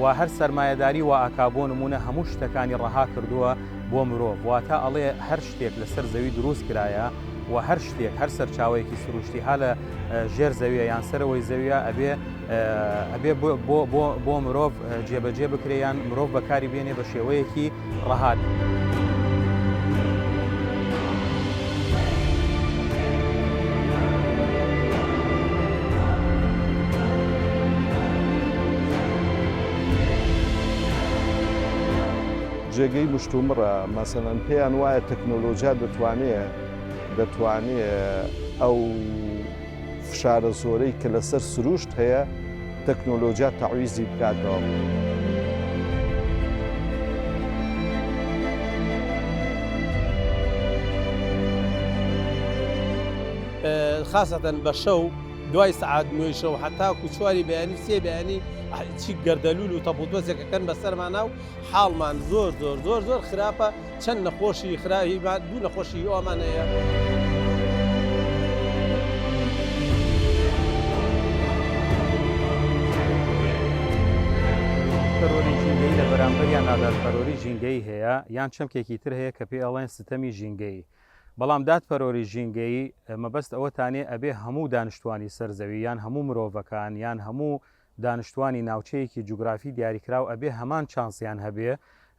وا هەر سەرمایەداری وائەکا بۆ نمونە هەموو شتەکانی ڕەها کردووە بۆ مرۆڤ واتە ئەڵێ هەر شتێک لەسەر زەوی دروست کرایە وە هەر شتێک هەر سەرچاوەیەکی سروشتی هالە ژێر زەویە یان سەرەوەی زەویە ئەبێ ئەبێ بۆ مرۆڤ جێبەجێ بکرێ یان مرۆڤ بەکاری بێنێ بە شێوەیەکی ڕەهات. جێگەی مشتومڕە مەسەەن پێیان وایە تەکنۆلۆژیا دەتوانێت دەتوانێت ئەو فشارە زۆرەی کە لەسەر سرووشت هەیە، تەکنۆلۆجیا تەعویزی بکاتەوە. خاسەتەن بە شەو دوای سعات نوێی شەو حتاکو چواری بەیانی سێ بەیانی چی گەردەلول و تەپوتۆزێکەکەن بەسەرمانە و حاڵمان زۆر زۆر زۆر زۆر خراپە چەند نەخۆشی خراهی باد دوو نەخۆشی ئەومان هەیەۆریژینگەی لە بەرامبەر یان نادادپەرۆری ژینگەی هەیە یان چەمکێکی تر هەیە کە پێ ئەڵێن ستەمی ژینگەی بەڵام دادپەرۆری ژینگەی مەبەست ئەوەتانێ ئەبێ هەموو دانیشتوانی سەر زەوی یان هەموو مرۆڤەکان یان هەموو دانشتوانی ناوچەیەکی جوگرافی دیاریکراو ئەبێ هەمان چانسیان هەبێ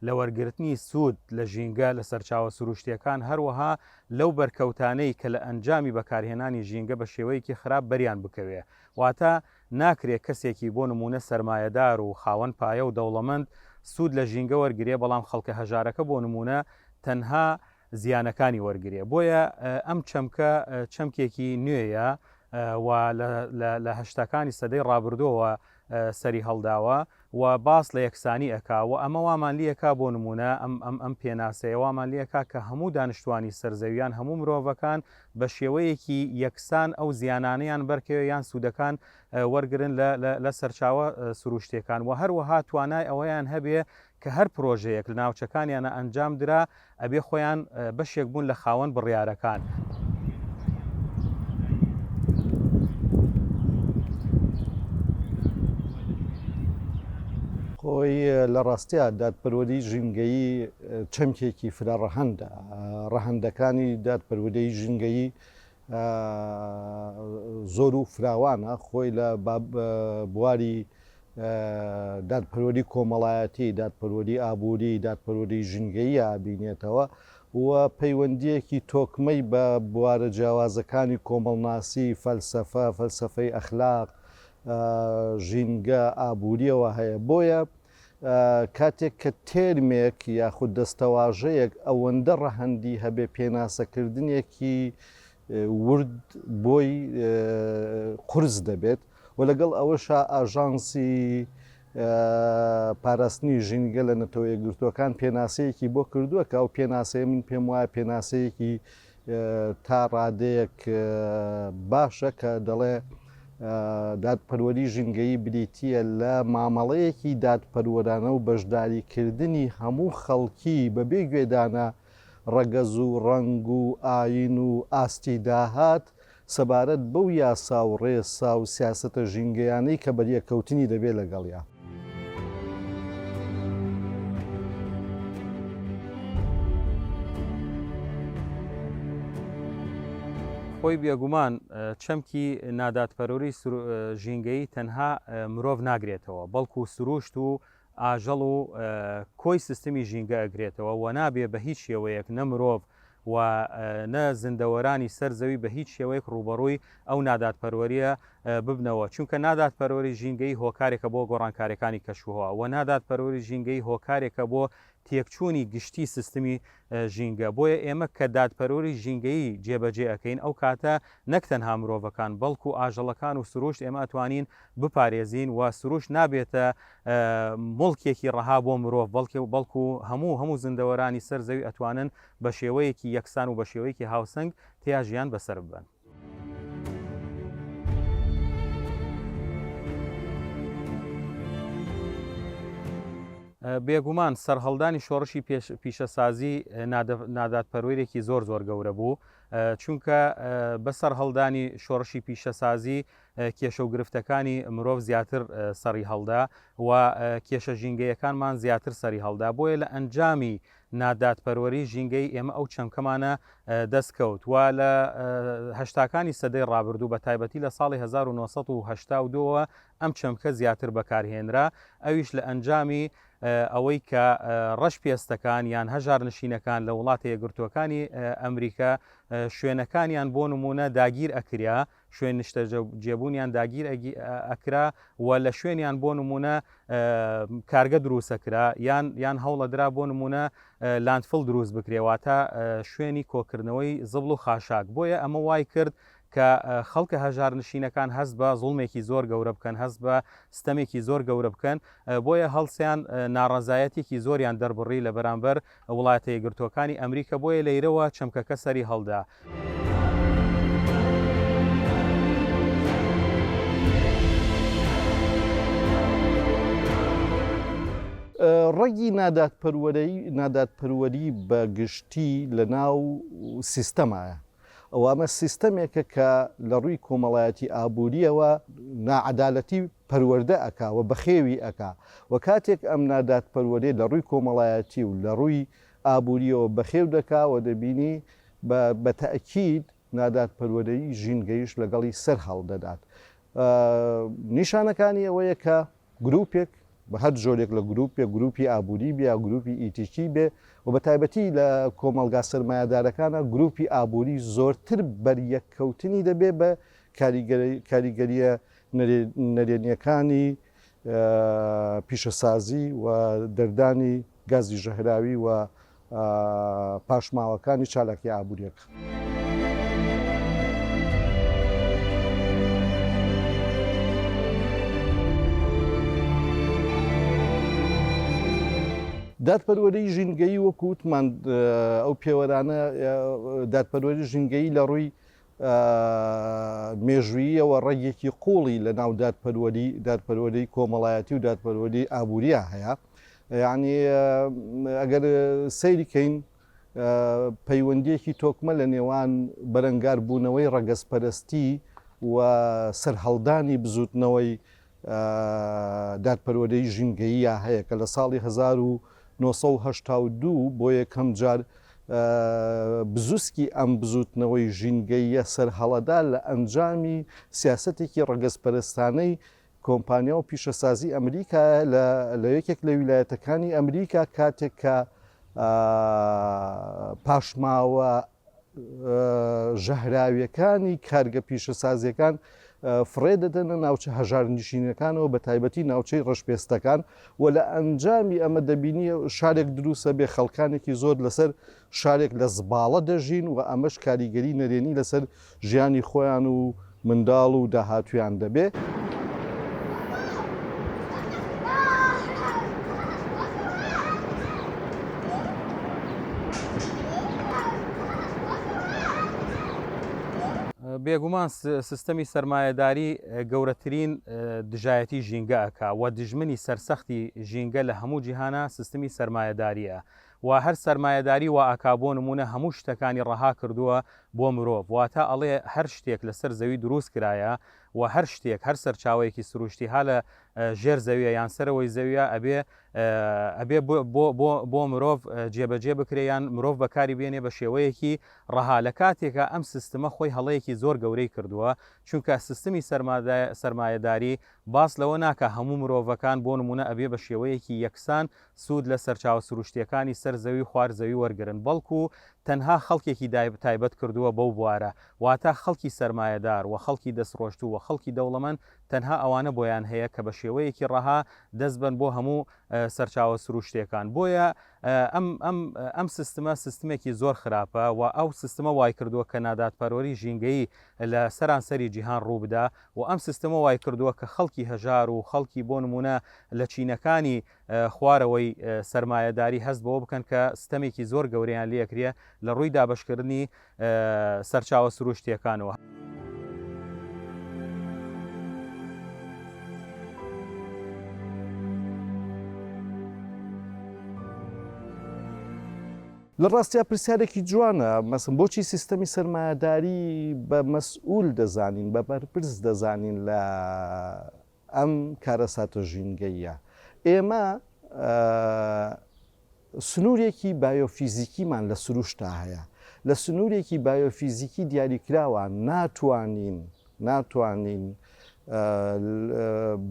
لە وەرگرتنی سوود لە ژینگە، لە سەرچاوە سرووشتییەکان، هەروەها لەو بەرکەوتانەی کە لە ئەنجامی بەکارهێنانی ژینگە بە شێوەیەکی خراپ بەریان بکەوێ. واتە ناکرێ کەسێکی بۆ نموونە سەرمایەدار و خاوەن پایە و دەوڵەمەند سوود لە ژینگە وەرگرێ، بەڵام خەڵکە هەژارەکە بۆ نموونە تەنها زیانەکانی وەرگرێ بۆیە ئەم چەمکە چەمکێکی نوێیە و لە هەشتاکانی سەدەی ڕابردۆوە سەری هەڵداوە و باس لە یەکسانی ئەکا و ئەمە وامان لیەکە بۆ نمونە ئەم ئەم ئەم پێناسەیە وامان لیەکە کە هەموو دانیشتوانی سەرزەویان هەموو مرۆڤەکان بە شێوەیەکی یەکسان ئەو زیانانیان بەرکەوێ یان سوودەکان وەرگن لە سەرچاوە سروشتێکان و هەروەها توانای ئەوەیان هەبێ کە هەر پرۆژەیەک لە ناوچەکانیانا ئەنجام درا ئەبێ خۆیان بەشێک بوون لە خاوەن بڕیارەکان. خۆی لە ڕاستیا دادپەروەری ژینگەیی چەمکێکی فرە ڕەهەندە ڕەهەندەکانی دادپەروەدەی ژینگەیی زۆر و فراوانە، خۆی لە بواری دادپەروەری کۆمەڵایەتی، دادپەروەری ئابووری، دادپەروەری ژینگەییا ئەبینێتەوە و پەیوەندییەکی تۆکمەی بە بوارە جیاوازەکانی کۆمەڵناسی، فەلسەفە، فەلسەفەی ئەخلاق، ژینگە، ئابوورییەوە هەیە. بۆیە کاتێک کە تێرمێک یاخود دەستەواژەیەک ئەوەندە ڕەهەندی هەبێ پێناسەکردنێکی ورد بۆی قرس دەبێت و لەگەڵ ئەوەشا ئاژانسی پاراستنی ژینگە لە نەتەوە یەکگرتووەکان پێناسەیەکی بۆ کردووە کە ئەو پێناسەیە من پێم وایە پێناسەیەکی تا ڕادەیەک باشە کە دەڵێ دادپەروەری ژینگەیی بریتییە لە مامەڵەیەکی دادپەروەرانە و بەشداریکردنی هەموو خەڵکی بەبێ گوێدانە ڕەگەز و ڕەنگ و ئاین و ئاستی داهات، سەبارەت بەو یاسا و ڕێسا و سیاسەتە ژینگەیانەی کە بەریەککەوتنی دەبێت لەگەڵیا. خۆی بێگومان چەمکی نادادپەروری ژینگەیی تەنها مرۆڤ ناگرێتەوە، بەڵکو سرووشت و ئاژەڵ و کۆی سیستمی ژینگە ئەگرێتەوە و نابێ بە هیچ شێوەیەک نە مرۆڤ و نە زیندەوەرانی سەر زەوی بە هیچ شێوەیەک ڕووبەڕووی ئەو نادادپەروەرییە ببنەوە چونکە نادادپەروەری ژینگەیی هۆکارێکە بۆ گۆڕانکاریەکانی کەشوهەوا و نادادپەروەری ژینگەیی هۆکارێکە بۆ تێکچوونی گشتی سیستمی ژینگە بۆیە ئێمە کە دادپەروەری ژینگەیی جێبەجێ ئەکەین ئەو کاتە نەک تەنها مرۆڤەکان بەڵکو ئاژەڵەکان و سروشت ئێمە ئەتوانین بپارێزین و سروشت نابێتە موڵکێکی ڕەها بۆ مرۆڤ، بەڵکێ بەڵکو هەموو هەموو زیندەوەرانی سەر زەوی ئەتوانن بە شێوەیەکی یەکسان و بە شێوەیەکی هاوسەنگ تێیا ژیان بەسەر ببەن. بێگومان سەرهەڵدانی شۆڕشی پیشەسازی نادادپەروەرێکی زۆر زۆر گەورە بوو چونکە بە سەرهەڵدانی شۆڕشی پیشەسازی کێشە و گرفتەکانی مرۆڤ زیاتر سەڕی هەڵدا و کێشە ژینگەیەکانمان زیاتر سەری هەڵدا بۆیە لە ئەنجامی نادادپەروەری ژینگەی ئێمە ئەو چەمکەمانە دەستکەوت و لە هەشتاکانی سەدەی ڕابردوو بە تایبەتی لە ساڵی 1970ەوە ئەم چەمکە زیاتر بەکارهێنرا ئەویش لە ئەنجامی ئەوەی کە ڕەش پێستەکان یان هەژار نشینەکان لە وڵاتە یەگرتووەکانی ئەمریکا شوێنەکانیان بۆ نمونە داگیر ئەکریا شوێن نیشتەجێبوونیان داگیر ئەکرا و لە شوێنیان بۆ نمونە کارگە دروستە کرا یان یان هەوڵەدرا بۆ نمونە لاندفل دروست بکرێواتە شوێنی کۆکردنەوەی زبڵ و خاشاک بۆیە ئەمە وای کرد کە خەڵکە هەژار نشینەکان هەست بە زوڵمێکی زۆر گەورە بکەن هەست بە ستەمێکی زۆر گەورە بکەن بۆیە هەڵسیان ناڕزایەتێکی زۆریان دەربڕی لە بەرامبەر وڵاتە یەکگرتووەکانی ئەمریکا بۆیە لەیرەوە چەمکەکە سەری هەڵدا. ڕەگی نادادپەروەری بە گشتی لە ناو سیستەمایە ئەوە ئەمە سیستەمێکە کە لە ڕووی کۆمەڵایەتی ئابووریەوە ناعەدالەتی پەروەردە ئەکا و بەخێوی ئەکا و کاتێک ئەم نادادپەروەریە لە ڕووی کۆمەڵایەتی و لە ڕووی ئابووریەوە بەخێو دەکا و دەبینی بە بە تەئکید نادادپەروەرەی ژینگەیش لەگەڵی سەر هەڵ دەدات نیشانەکانی ئەوەیە کە گروپێک بە هەر جۆرێک لە گروپێک گروپی ئابووری بیا گروپی ئیتیکی بێ و بە تایبەتی لە کۆمەلگا سەرمایەدارەکانە گروپی ئابووری زۆرتر بەریەککەوتنی دەبێ بە کاریگەریە نەرێنییەکانی پیشەسازی و دەردانی گازی ژەهراوی و پاشماوەکانی چالاکییە ئابوورییەکان. دادپەروەریی ژینگەیی وەکو وتمان ئەو پێوەرانە دادپەروەریی ژینگەیی لە ڕووی مێژووییەوە ڕەگێکی قووڵی لە ناو دادپەروەری دادپەروەری کۆمەڵایەتی و دادپەروەری ئابووریان هەیە یعنی ئەگەر سەیریکەین پەیوەندیەکی تۆکمە لە نێوان بەرەنگاربوونەوەی ڕەگەزپەرستی و سەرهەڵدانی بزوتنەوەی دادپەروەرەی ژینگەییە هەیە کە لە ساڵی هەزار و نۆ سەد و هەشتا و دوو بۆ یەکەم جار بزوسکی ئەم بزوتنەوەی ژینگەییە سەرهەڵەدا لە ئەنجامی سیاسەتێکی ڕەگەزپەرستانەی کۆمپانیا و پیشەسازی ئەمریکایە لە یەکێک لە ویلایەتەکانی ئەمریکا کاتێک کە پاشماوە ژەهراویەکانی کارگە پیشەسازیەکان فڕێ دەدەنە ناوچە هەژار نشینەکانەوە بە تایبەتی ناوچەی ڕەشپێستەکان و لە ئەنجامی ئەمە دەبینی شارێک دروستە بێ خەڵکانێکی زۆر لەسەر شارێک لە زباڵە دەژین و ئەمەش کاریگەری نەرێنی لەسەر ژیانی خۆیان و منداڵ و داهاتوویان دەبێ. بێگومان سستەمی سەرمایەداری گەورەترین دژایەتی ژینگە ئەکا و دژمنی سەرسەختی ژینگە لە هەموو جیهانە سستمی سەرمایەداریە وا هەر سەرمایەداری وائەکا بۆ نمونە هەموو شتەکانی ڕەها کردووە بۆ مرۆڤ واتا ئەڵێ هەر شتێک لەسەر زەوی دروست کرایە و هەر شتێک هەر سەرچاوەیەکی سروشتی ها لە ژێر زەویە یان سەرەوەی زەویە ئەبێ ئەبێ بۆ مرۆڤ جێبەجێ بکرێ یان مرۆڤ بەکاری بێنێ بە شێوەیەکی ڕەها لە کاتێکا ئەم سیستمە خۆی هەڵەیەکی زۆر گەورەی کردووە چونکە سیستمی سەرمایەداری باس لەوە ناکا هەموو مرۆڤەکان بۆ نمونە ئەبێ بە شێوەیەکی یەکسان سوود لە سەرچاوە سروشتییەکانی سەر زەوی و خوار زەوی وەرگرن، بەڵکو تەنها خەڵکێکی تایبەت کردووە بەو بوارە، واتە خەڵکی سەرمایەدار و خەڵکی دەستڕۆشتوو و خەڵکی دەوڵەمەند تەنها ئەوانە بۆیان هەیە کە بەشێوەیەکی ڕەها دەست بەن بۆ هەموو سەرچاوە سروشتییەکان بۆیە ئەم سیستمە سیستمێکی زۆر خراپە و ئەو سیستمە وایکردووە کە نادادپەروەری ژینگەیی لە سەرانسەری جیهان ڕووبدا و ئەم سیستمە وایکردووە کە خەڵکی هەژار و خەڵکی بۆ نموونە لە چینەکانی خوارەوەی سەرمایەداری هەست بەوە بکەن کە ستەمێکی زۆر گەورەیان لێ ئەکرێ لە ڕووی دابەشکردنی سەرچاوە سرووشتییەکانەوە. لە ڕاستیا پرسیارێکی جوانە، مەسەن بۆچی سیستەمی سەرمایەداری بە مەسئوول دەزانین، بە بەرپرس دەزانین لە ئەم کارەساتە ژینگەییە ئێمە سنوورێکی بایۆفیزیکیمان لە سروشتا هەیە، لە سنوورێکی بایۆفیزیکی دیاریکراوە ناتوانین ناتوانین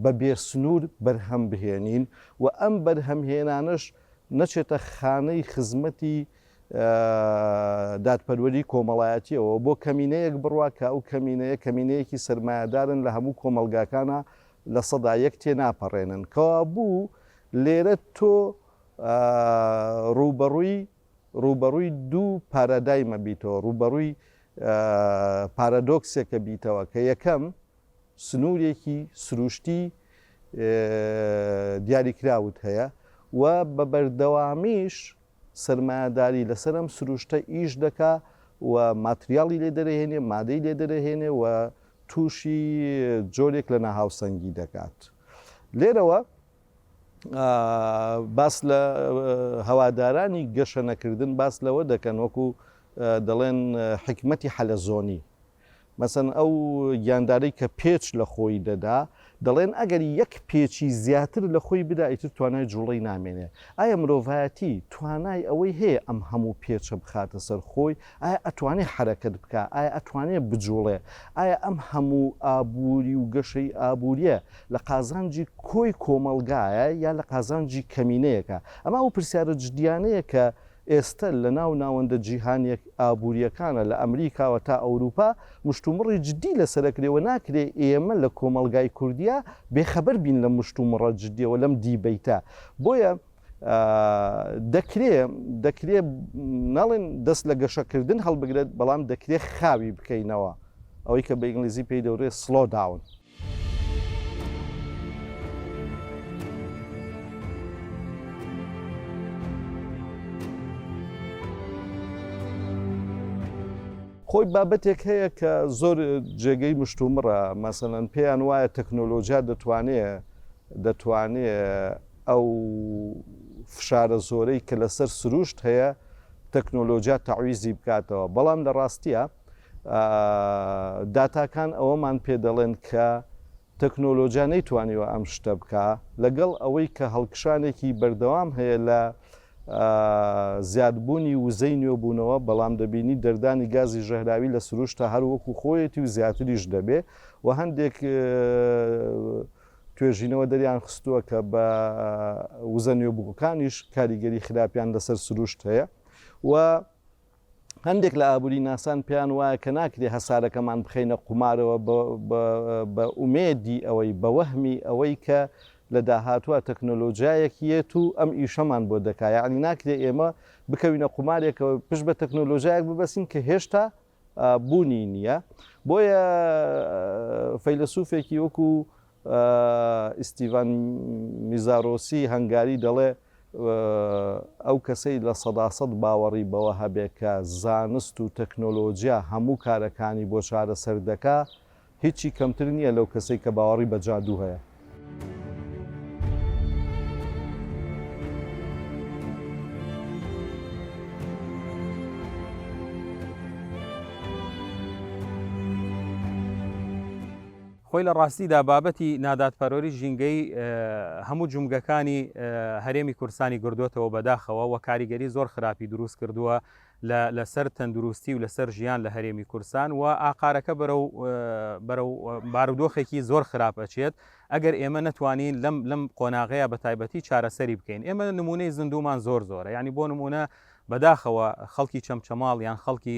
بە بێ سنوور بەرهەم بهێنین و ئەم بەرهەمهێنانەش نەچێتە خانەی خزمەتی دادپەروەری کۆمەڵایەتیەوە بۆ کەمینەیەک بڕوا کە ئەو کەمینەیە کەمینەیەکی سەرمایەدارن لە هەموو کۆمەڵگاکانا لە سەدا یەک تێناپەڕێنن کەوابوو لێرە تۆ ڕووبەڕووی ڕووبەڕووی دوو پارادایمە بیتەوە ڕووبەڕووی پارادۆکسێکە بیتەوە کە یەکەم سنوورێکی سروشتی دیاریکراوت هەیە و بە بەردەوامیش سەرمایەداری لەسەر ئەم سروشتە ئیش دەکا و ماتریاڵی لێ دەرەهێنێ، مادەی لێ دەرەهێنێ و تووشی جۆرێک لە ناهاوسەنگی دەکات. لێرەوە باس لە هەوادارانی گەشەنەکردن باس لەوە دەکەن وەکوو دەڵێن حیکمەتی حەلەزۆنی. مەسەن ئەو گیاندارەی کە پێچ لە خۆی دەدا، دەڵێن ئەگەر یەک پێچی زیاتر لە خۆی بدا ئیتر توانای جووڵەی نامێنێ. ئایا مرۆڤایەتی توانای ئەوەی هەیە ئەم هەموو پێچە بخاتە سەر خۆی؟ ئایا ئەتوانێ حەرەکەت بکا؟ ئایا ئەتوانێ بجووڵێ؟ ئایا ئەم هەموو ئابووری و گەشەی ئابوورییە لە قازانجی کۆی کۆمەڵگایە یا لە قازانجی کەمینەیەکە؟ ئەمە ئەو پرسیارە جدییانەیە کە ئێستە لە ناو ناوەندە جیهانییە ئابوورییەکانە لە ئەمریکاوە تا ئەوروپا مشتومڕی جددی لەسەر ئەکرێ و ناکرێ ئێمە لە کۆمەڵگای کوردیا بێ خەبەر بین لەم مشتومڕە جددییە و لەم دیبەیتە بۆیە دەکرێ دەکرێ نەڵێن دەست لە گەشە کردن هەڵبگرێت بەڵام دەکرێ خاوی بکەینەوە ئەوەی کە بە ئینگلیزی پێی دەوترێ سڵۆ داون. خۆی بابەتێک هەیە کە زۆر جێگەی مشتومڕە مەسەەن پێیان وایە تەکنۆلۆژیا دەتوانێ دەتوانێ ئەو فشارە زۆرەی کە لەسەر سروشت هەیە تەکنۆلۆژیا تەعویزی بکاتەوە بەڵام لە ڕاستیە داتاکان ئەوەمان پێ دەڵێن کە تەکنۆلۆجیا نەیتوانیوە ئەم شتە بکا لەگەڵ ئەوەی کە هەڵکشانێکی بەردەوام هەیە لە زیادبوونی وزەی نوێبوونەوە بەڵام دەبینی دەردانی گازی ژەهراوی لە سروشتە هەر وەکو خۆیەتی و زیاتریش دەبێ و هەندێک توێژینەوە دەریان خستووە کە بە وزە نوێبووەکانیش کاریگەری خراپیان لەسەر سروشت هەیە و هەندێک لە ئابووری ناسان پێیان وایە کە ناکرێ هەسارەکەمان بخەینە قومارەوە بە ئومێدی ئەوەی، بە وەهمی ئەوەی کە لە داهاتووا تەکنۆلۆجیایەک یێت و ئەم ئیشەمان بۆ دەکا. یەعنی ناکرێ ئێمە بکەوینە قومارێکەوە پشت بە تەکنۆلۆجیایەک ببەستین کە هێشتا بوونی نییە. بۆیە فەیلەسووفێکی وەکوو ئیستیڤان میزارۆسی هەنگاری دەڵێ، ئەو کەسەی لە سەدا سەد باوەڕی بەوە هەبێ کە زانست و تەکنۆلۆجیا هەموو کارەکانی بۆ چارەسەر دەکا، هیچی کەمتر نییە لەو کەسەی کە باوەڕی بە جادوو هەیە. خۆی لە ڕاستیدا بابەتی نادادپەروەری ژینگەیی هەموو جومگەکانی هەرێمی کوردستانی گردۆتەوە بەداخەوە وە کاریگەری زۆر خراپی دروست کردووە لە لەسەر تەندروستی و لەسەر ژیان لە هەرێمی کورسان و ئاقارەکە بەرەو بەرەو بارودۆخێکی زۆر خراپ ئەچێت ئەگەر ئێمە نەتوانین لەم لەم قۆناغەیە بە تایبەتی چارەسەری بکەین ئێمە نمونەی زیندومان زۆر زۆرە ینی بۆ نمونە بەداخەوە خەڵکی چەمچەماڵ یان خەڵکی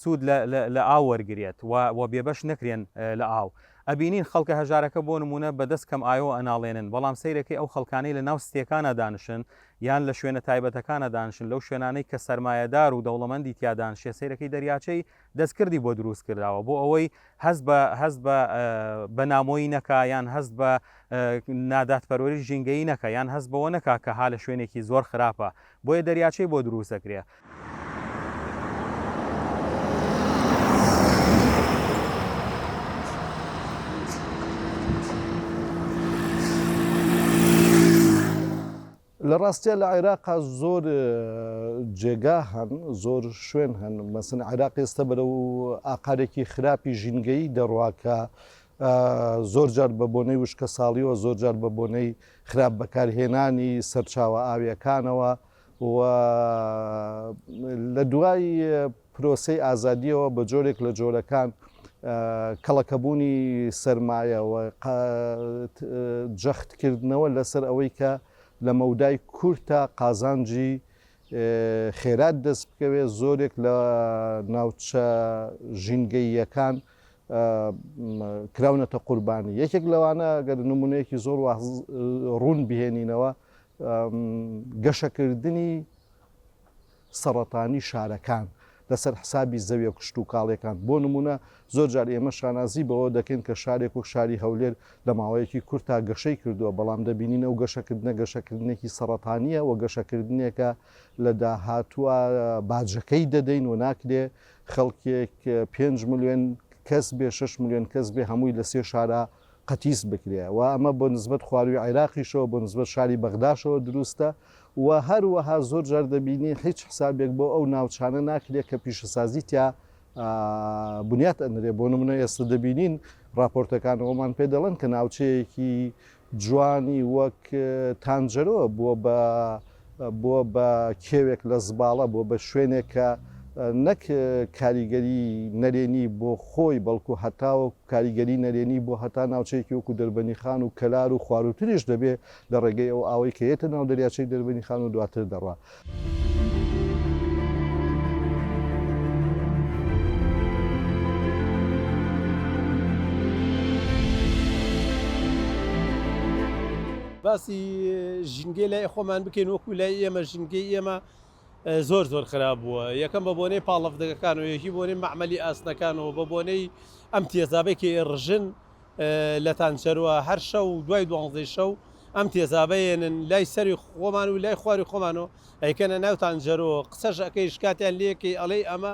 سود لە لە ئاو وەرگرێت و و بێبەش نەکرێن لە ئاو. ئەبینین خەڵکە هەژارەکە بۆ نموونە بە دەست کەم ئاۆ ئەناڵێنن، بەڵام سەیرەکەی ئەو خەڵکانەی لە ناو ستێکانا دانشن یان لە شوێنە تایبەتەکانا دانشن لەو شوێنانەی کە سەرمایەدار و دەوڵەمەندی تیا دانشێ سەیرەکەی دەریاچەی دەستکردی بۆ دروست کرداوە بۆ ئەوەی هەست بە هەست بە بە نامۆیی نەکا یان هەست بە نادادپەروەری ژینگەیی نەکە یان هەست بەوە نەکا کە ها لە شوێنێکی زۆر خراپە بۆیە دەریاچەی بۆ دروست دەکرێ لە ڕاستیا لە عێراقا زۆر جێگا هەن زۆر شوێن هەن مەسن عێراق ئێستا بەرە و ئاقارێکی خراپی ژینگەی دەڕواکە زۆر جار بە بۆنەی وشکە ساڵیەوە زۆر جار بە بۆنەی خراپ بەکارهێنانی سەرچاوە ئاویەکانەوە و لە دوای پرۆسەی ئازادییەوە بە جۆرێک لە جۆرەکان کەڵەکەبوونی سەرمایە و جەختکردنەوە لەسەر ئەوەی کە لە مەودای کورتا قازانجی خێرات دەست بکەوێت زۆرێک لە ناوچە ژینگەییەکان کراونەتە قوربانی یەکێک لەوانە گەر نمونەیەکی زۆر ڕوون بهێنینەوە گەشەکردنی سەڕەتانی شارەکان لەسەر حسابی زەویە کشتوکاڵیەکان بۆ نمونە زۆر جار ئێمە شانازی بەوە دەکەین کە شارێک وەک شاری هەولێر لە ماوەیەکی کورت تا گەشەی کردووە بەڵام دەبینین ئەو گەشەکردنە گەشەکردنێکی سەڕەتانیە و گەشەکردنێکە لە داهاتوە باجەکەی دەدەین و ناکرێ خەڵکێک پێنج ملیۆن کەس بێ شش ملیۆن کەس بێ هەمووی لە سێ شارە قەتیس بکرێ و ئەمە بۆ نسبەت خوارووی عێراقیشەوە بۆ نسبەت شاری بەغداشەوە دروستە و هەروەها زۆر جار دەبینین هیچ حسابێک بۆ ئەو ناوچانە ناکرێ کە پیشەسازی تیا بنیات ئەنرێ بۆ نمونە ئێستا دەبینین راپۆرتەکانەوەمان پێ دەڵێن کە ناوچەیەکی جوانی وەک تانجەرۆ بووە بە بۆ بە کێوێک لە زباڵە، بۆ بە شوێنێک کە نەک کاریگەری نەرێنی بۆ خۆی بەڵکو هەتاوەکو کاریگەری نەرێنی بۆ هەتا ناوچەیەکی وەکو دەربەنیخان و کەلار و خواروتریش دەبێ لە ڕێگەی ئەو ئاوەی کە یەتە ناو دەریاچەی دەربەنیخان و دواتر دەڕوا. باسی ژینگەی لای خۆمان بکەین وەکو لای ئێمە ژینگەی ئێمە زۆر زۆر خراپ بووە یەکەم بە بۆنەی پاڵەفدەگەکان و یەکی بۆنەی مەعمەلی ئاسنەکان و بە بۆنەی ئەم تێزابەی کە ئێڕژن لە تانچەروە هەر شەو و دوای دوانزەی شەو ئەم تێزابەیەنن لای سەری خۆمان و لای خواری خۆمان و ئەیکەنە ناو تانجەرۆ قسەش ئەەکەی شکاتیان لەکەی ئەڵەی ئەمە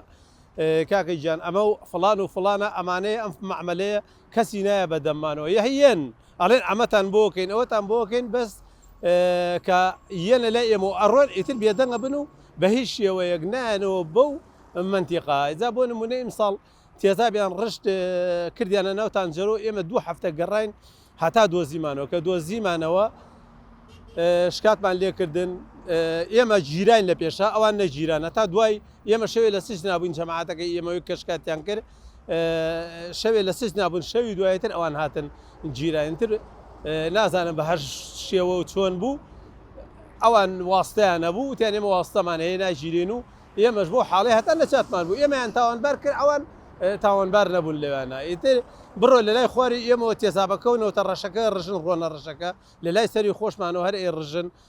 کاکە گیان ئەمە و فلان و فلانە ئەمانەیە ئەم معملەیە کەسی نایە بە دەممانەوە یه یێن ئەڵێن عەمەتان بۆ کەین ئەوەتان بۆ کەین بەس کە یێن لە لای ئێمەوە ئەڕۆن ئیتر بێدەنگ ئەبن و بە هیچ شێوەیەک نایەنەوە بەو مەنتیقا جا بۆ نموونە ئیمساڵ تێزابیان ڕشت کردیانە ناو تانجەرۆ ئێمە دوو هەفتە گەڕاین هەتا دۆزیمانەوە کە دۆزیمانەوە شکاتمان لێکردن ئێمە گیراین لە پێشا ئەوان نەگیران هەتا دوای ئێمە شەوێ لە سجنا بووین جەماعەتەکەی ئێمەوەی کە شکاتیان کرد شەوێ لە سجنا بوون شەوی دوایتر ئەوان هاتن جیرانتر نازانم بە هەر شێوە و چۆن بوو ئەوان واستیان نەبوو تیان ئێمە واستەمان هەیە ناگیرێن و ئێمەش بۆ حاڵی هەتا لە چاتمان بوو ئێمەیان تاوانبار کرد ئەوان تاوانبار نەبوون لەوانە ئیتر بڕۆ لە لای خواری ئێمەوە تێزابەکەونەوە تە ڕەشەکە ڕژن ڕۆنە ڕژەکە لە لای سەری خۆشمانەوە هەر ئێ ڕژن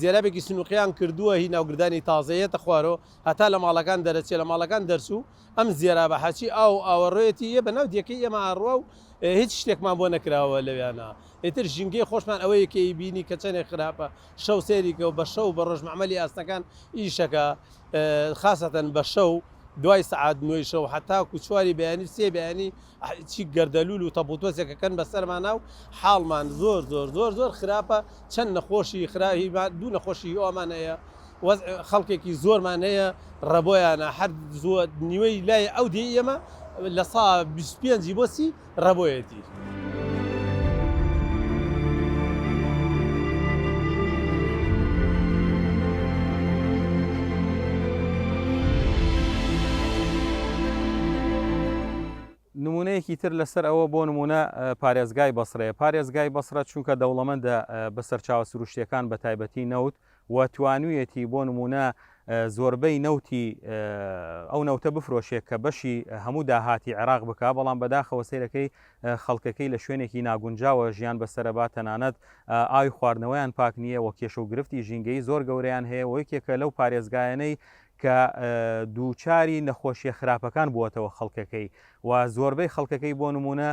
زێرابێکی سنووقیان کردووە هی ناوگردانی تازەیەتە خوارۆ هەتا لە ماڵەکان دەرەچێ لە ماڵەکان دەرچوو ئەم زێرابە حەچی ئاو ئاوەڕۆیەتی یە بە ناو دیەکەی ئێمە ئاڕوا و هیچ شتێکمان بۆ نەکراوە لەویانە ئیتر ژینگەی خۆشمان ئەوە یەکەی بینی کە چەندێک خراپە شەو سێریکە و بە شەو بە ڕۆژ معمەلی ئاسنەکان ئیشەکە خاستەن بە شەو دوای سعات نوێی شەو حتا کوچواری بەیانی سێ بەیانی چی گەردەلول و تەپوتۆسێکە کەن بەسەرمانا و حاڵمان زۆر زۆر زۆر زۆر خراپە چەن نەخۆشی خرا هی با دوو نەخۆشی ئەومان هەیە وەز خەڵکێکی زۆرمان هەیە ڕەبۆیانە هەر زۆر نیوەی لای ئەو دێ ئێمە لە سا 25 بۆ سی ڕەبۆیەتی. نموونەیەکی تر لەسەر ئەوە بۆ نموونە پارێزگای بەسرەیە، پارێزگای بەسرە چونکە دەوڵەمەندە بە سەرچاوە سروشتیەکان بە تایبەتی نەوت و توانویەتی بۆ نموونە زۆربەی نەوتی ئەو نەوتە بفرۆشێک کە بەشی هەموو داهاتی عێراق بک بەڵام بەداخەوە سیرەکەی خەڵکەکەی لە شوێنێکی ناگونجاوە ژیان بەسەرەبا تەنانەت ئاوی خواردنەوەیان پاک نییە و کێشە و گرفتی ژینگەی زۆر گەورەیان هەیە و یەکێکە لەو پارێزگایەنەی کە دووچاری نەخۆشیە خراپەکان بووەتەوە خەڵکەکەی و زۆربەی خەڵکەکەی بۆ نمونە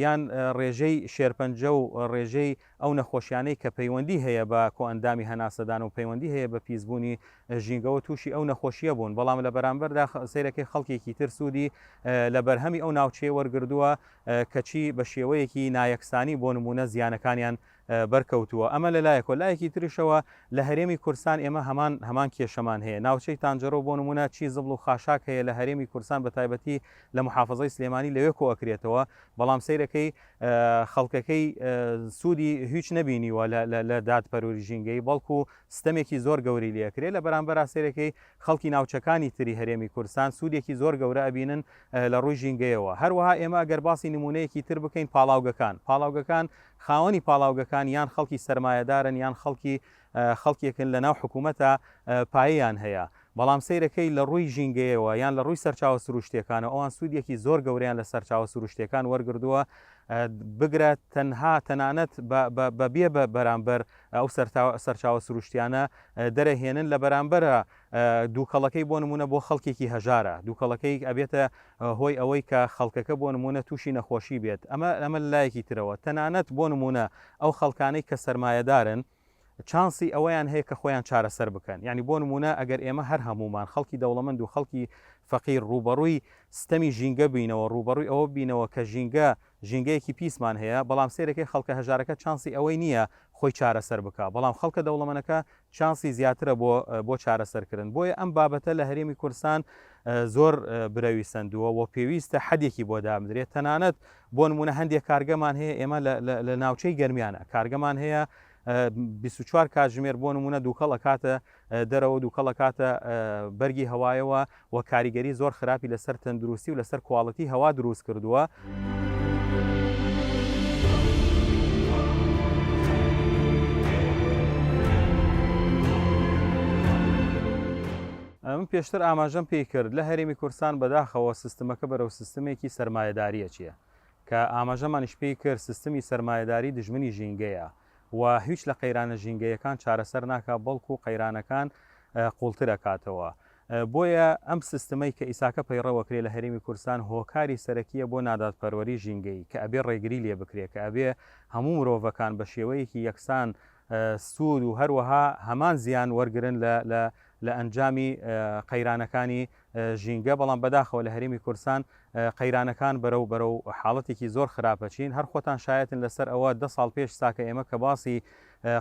یان ڕێژەی شێرپەنجە و ڕێژەی ئەو نەخۆشیانەی کە پەیوەندی هەیە بە کۆئەندامی هەناسەدان و پەیوەندی هەیە بە پیسبوونی ژینگەوە تووشی ئەو نەخۆشیە بوون بەڵام لە بەرامبەردا سیرەکەی خەڵکێکی تر سوودی لە بەرهەمی ئەو ناوچەیە وەرگردووە کەچی بە شێوەیەکی نایەکسانی بۆ نمونە زیانەکانیان بەرکەوتووە، ئەمە لە لایەکەوە، لایەکی تریشەوە لە هەرێمی کورستان ئێمە هەمان هەمان کێشەمان هەیە، ناوچەی تانجەرۆ بۆ نموونە چی زبڵ و خاشاک هەیە لە هەرێمی کورستان بە تایبەتی لە محافەزەی سلێمانی لەوێ کۆ ئەکرێتەوە بەڵام سەیرەکەی خەڵکەکەی سوودی هیچ نەبینیوە لە دادپەروری ژینگەی بەڵکو ستەمێکی زۆر گەوری لێ کرێ لە بەرامبەر سەیرەکەی خەڵکی ناوچەکانی تری هەرێمی کورستان سوودێکی زۆر گەورە ئەبینن لە ڕووی ژینگەیەوە هەروەها ئێمە گەر باسی نمونەیەکی تر بکەین پاڵاوگەکان پاڵاوگەکان خاوەنی پاڵاوگەکان یان خەڵکی سەرمایەدارن یان خەڵکی خەڵکێکن لەناو حکوومەتا پایەیان هەیە، بەڵام سەیرەکەی لە ڕووی ژینگەیەوە یان لە ڕووی سەرچاوە سرووشتییەکانەوە ئەوان سوودێکی زۆر گەورەیان لە سەرچاوە سرووشتییەکان وەرگردووە بگرە تەنها تەنانەت بە بێ بە بەرامبەر ئەو سەرچاوە سرووشتیانە دەرەهێنن لە بەرامبەرە دووکەڵەکەی بۆ نموونە بۆ خەڵکێکی هەژارە، دووکەڵەکەی ئەبێتە هۆی ئەوەی کە خەڵکەکە بۆ نموونە تووشی نەخۆشی بێت، ئەمە ئەمە لە لایەکی ترەوە تەنانەت بۆ نموونە ئەو خەڵکانەی کە سەرمایەدارن چانسی ئەوەیان هەیە کە خۆیان چارەسەر بکەن، یانی بۆ نموونە ئەگەر ئێمە هەر هەموومان خەڵکی دەوڵەمەند و خەڵکی فەقیر ڕووبەڕووی ستەمی ژینگە بینەوە، ڕووبەڕووی ئەوە بینەوە کە ژینگە ژینگەیەکی پیسمان هەیە، بەڵام سەیرەکەی خەڵکە هەژارەکە چانسی ئەوەی نییە خۆی چارەسەر بکا، بەڵام خەڵکە دەوڵەمەنەکە چانسی زیاترە بۆ بۆ چارەسەر کردن، بۆیە ئەم بابەتە لە هەرێمی کوردستان زۆر برەوی سەندووە و پێویستە حەدێکی بۆ دابنرێت، تەنانەت بۆ نموونە هەندێک کارگەمان هەیە ئێمە لە لە لە ناوچەی گەرمیان کارگەمان هەیە بیست و چوار کاتژمێر بۆ نموونە دووکەڵ ئەکاتە دەرەوە دوکەڵ ئەکاتە بەرگی هەوایەوە و کاریگەری زۆر خراپی لەسەر تەندروستی و لەسەر کواڵەتی هەوا دروست کردووە. من پێشتر ئاماژەم پێی کرد لە هەرێمی کورسان بەداخەوە سیستمەکە بەرەو سیستمێکی سرمایهداریە چییە کە ئاماژەمانیش پێی کرد سیستمی سرمایهداری دژمنی ژینگەیە و هیچ لە قەیرانە ژینگەیەکان چارەسەر ناکات بەڵکو قەیرانەکان قوڵتر ئەکاتەوە بۆیە ئەم سستمەی کە ئیساکە پەیڕەو ئەکرێ لە هەرێمی کوردستان هۆکاری سەرەکیە بۆ نادادپەروەری ژینگەیی کە ئەبێ ڕێگری لێ بکرێ کە ئەبێ هەموو مرۆڤەکان بە شێوەیەکی یەکسان سوود و هەروەها هەمان زیان وەرگرن لە لە لە ئەنجامی قەیرانەکانی ژینگە، بەڵام بەداخەوە لە هەرێمی کوردستان قەیرانەکان بەرەو بەرەو حاڵەتێکی زۆر خراپەچین، هەر خۆتان شایەتن لەسەر ئەوە دە ساڵ پێش ساکە ئێمە کە باسی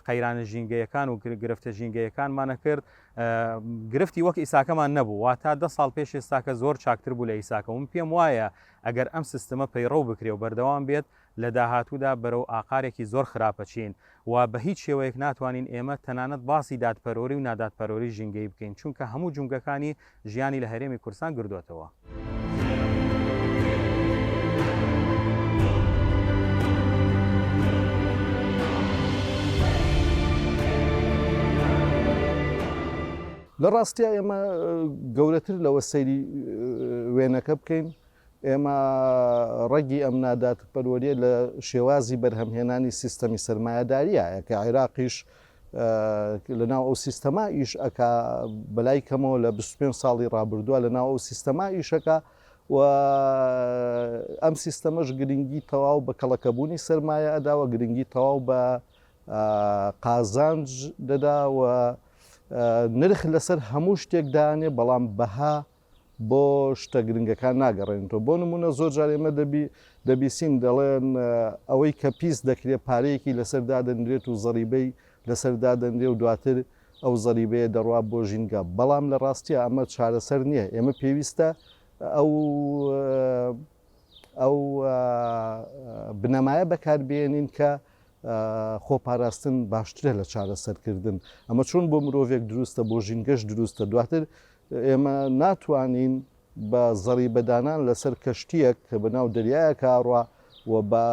قەیرانە ژینگەیەکان و گرفتە ژینگەیەکانمان نەکرد گرفتی وەک ئیساکەمان نەبوو وا تا دە ساڵ پێش ئێستاکە زۆر چاکتر بوو لە ئیساکە من پێم وایە ئەگەر ئەم سیستمە پەیڕەو بکرێ و بەردەوام بێت لە داهاتوودا بەرەو ئاقارێکی زۆر خراپ ئەچین و بە هیچ شێوەیەک ناتوانین ئێمە تەنانەت باسی دادپەروەری و نادادپەروەری ژینگەیی بکەین چونکە هەموو جومگەکانی ژیانی لە هەرێمی کوردستان گردۆتەوە. لە ڕاستیا ئێمە گەورەتر لەوە سەیری وێنەکە بکەین ئێمە ڕەگی ئەم نادادپەروەریە لە شێوازی بەرهەمهێنانی سیستەمی سەرمایەداریە کە عێراقیش لە ناو ئەو سیستەما ئیش ئەکا بەلای کەمەوە لە 25 ساڵی ڕابردووە لە ناو ئەو سیستەما ئیشەکە و ئەم سیستەمەش گرنگی تەواو بە کەڵەکەبوونی سەرمایە ئەداوە گرنگی تەواو بە قازانج دەدا و نرخ لەسەر هەموو شتێک دانێ بەڵام بەها بۆ شتە گرنگەکان ناگەڕێنێتەوە بۆ نموونە زۆر جار ئێمە دەبی دەبیسین دەڵێن ئەوەی کە پیس دەکرێت پارەیەکی لەسەر دادەنرێت و زەریبەی لەسەر دادەنرێ و دواتر ئەو زەریبەیە دەڕوات بۆ ژینگە بەڵام لە ڕاستیە ئەمە چارەسەر نییە ئێمە پێویستە ئەو ئەو بنەمایە بەکاربیێنین کە خۆپاراستن باشترە لە چارەسەرکردن ئەمە چۆن بۆ مرۆڤێک دروستە بۆ ژینگەش دروستە دواتر ئێمە ناتوانین بە زەڕیبەدانان لەسەر کەشتییەک کە بە ناو دەریایەکا ئەڕوا و بە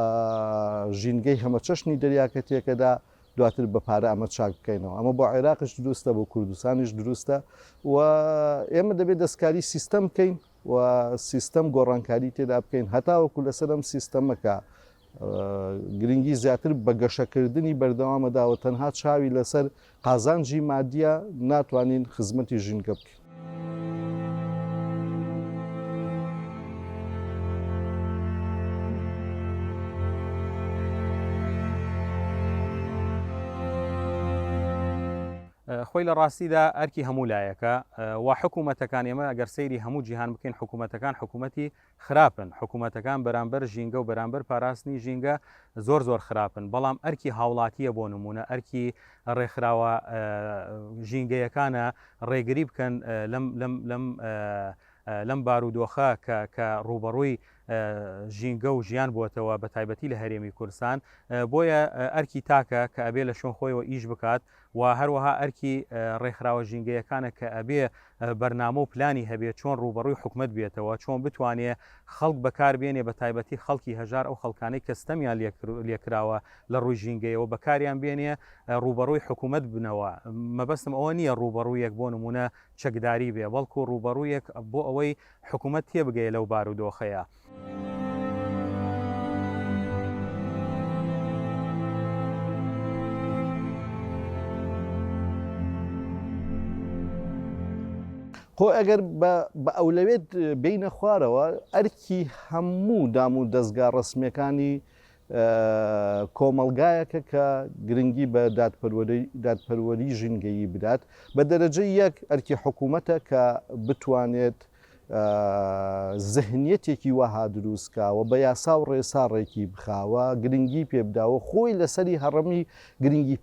ژینگەی هەمەچەشنی دەریاکە تێکەدا، دواتر بە پارە ئەمە چاک بکەینەوە. ئەمە بۆ عێراقیش دروستە، بۆ کوردستانیش دروستە و ئێمە دەبێ دەستکاری سیستەم بکەین و سیستەم گۆڕانکاری تێدا بکەین هەتاوەکو لەسەر ئەم سیستەمەکە گرنگی زیاتر بە گەشەکردنی بەردەوامەدا و تەنها چاوی لەسەر قازانجی مادیە ناتوانین خزمەتی ژینگە بکەین. خۆی لە ڕاستیدا ئەرکی هەموو لایەکە و حکوومەتەکان ئێمە ئەگەر سەیری هەموو جیهان بکەین حکوومەتەکان حکوومەتی خراپن، حکومەتەکان بەرامبەر ژینگە و بەرامبەر پاراستنی ژینگە زۆر زۆر خراپن، بەڵام ئەرکی هاوڵاتییە بۆ نموونە ئەرکی ڕێکخراوە ژینگەیەکانە ڕێگری بکەن لەم بارودۆخە کە ڕووبەڕووی ژینگە و ژیان بووەتەوە بەتایبەتی لە هەرێمی کوردستان، بۆیە ئەرکی تاکە کە ئەبێ لە شوێن خۆیەوە ئیش بکات و هەروەها ئەرکی ڕێکخراوە ژینگەیەکانە کە ئەبێ بەرنامە و پلانی هەبێ چۆن ڕووبەڕووی حکومەت بێتەوە، چۆن بتوانێ خەڵک بەکار بێنێ بە تایبەتی خەڵکی هەژار ئەو خەڵکانەی کە ستەمیان لێ کراوە لە ڕووی ژینگەیەوە بەکاریان بێنێ ڕووبەڕووی حکومەت بنەوە، مەبەستم ئەوە نییە ڕووبەڕوویەک بۆ نموونە چەکداری بێ بەڵکوو ڕووبەڕوویەک بۆ ئەوەی حکومەت تێبگەیە لەو بارودۆخەیە. خۆ ئەگەر بە ئەولەوێت بینە خوارەوە ئەرکی هەموو دام و دەستگا ڕسمەکانی کۆمەلگایەکە کە گرنگی بە دادپەروەری ژینگەیی بدات بە دەرەجە یەک ئەرکی حکوومەتە کە بتوانێت زهنیەتێکی وەها دروست کاوە بە یاسا و ڕێسا ڕێکی بخاوە گرنگی پێ بداوە خۆی لەسەری هەڕەمی گرنگی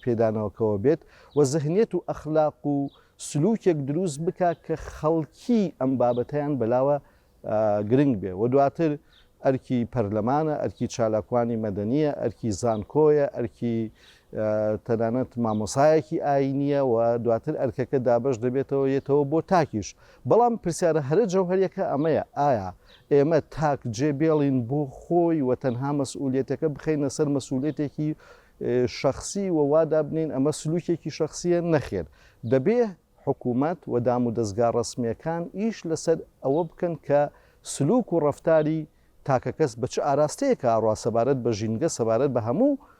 پێدانەوەکەوە بێت و زهنیەت و ئەخلاق و سلوکێک دروست بکا کە خەڵکی ئەم بابەتەیان بەلاوە گرنگ بێ و دواتر ئەرکی پەرلەمانە ئەرکی چالاکوانی مەدەنیە ئەرکی زانکۆیە ئەرکی تەنانەت مامۆسایەکی ئاینیە و دواتر ئەرکەکە دابەش دەبێتەوە یەتەوە بۆ تاکیش بەڵام پرسیارە هەرە جەوهەریەکە ئەمەیە ئایا ئێمە تاک جێ بێڵین بۆ خۆی و تەنها مەسئولیتەکە بخینە سەر مەسئولێتێکی شخصی و وادابنین ئەمە سلوکێکی شخصیە نەخێر دەبێ حکوومەت و دام و دەستگا ڕسمیەکان ئیش لەسەر ئەوە بکەن کە سلوک و ڕفتاری تاکەکەس بە چ ئاراستەیەکە ئاڕا سەبارەت بە ژینگە سەبارەت بە هەموو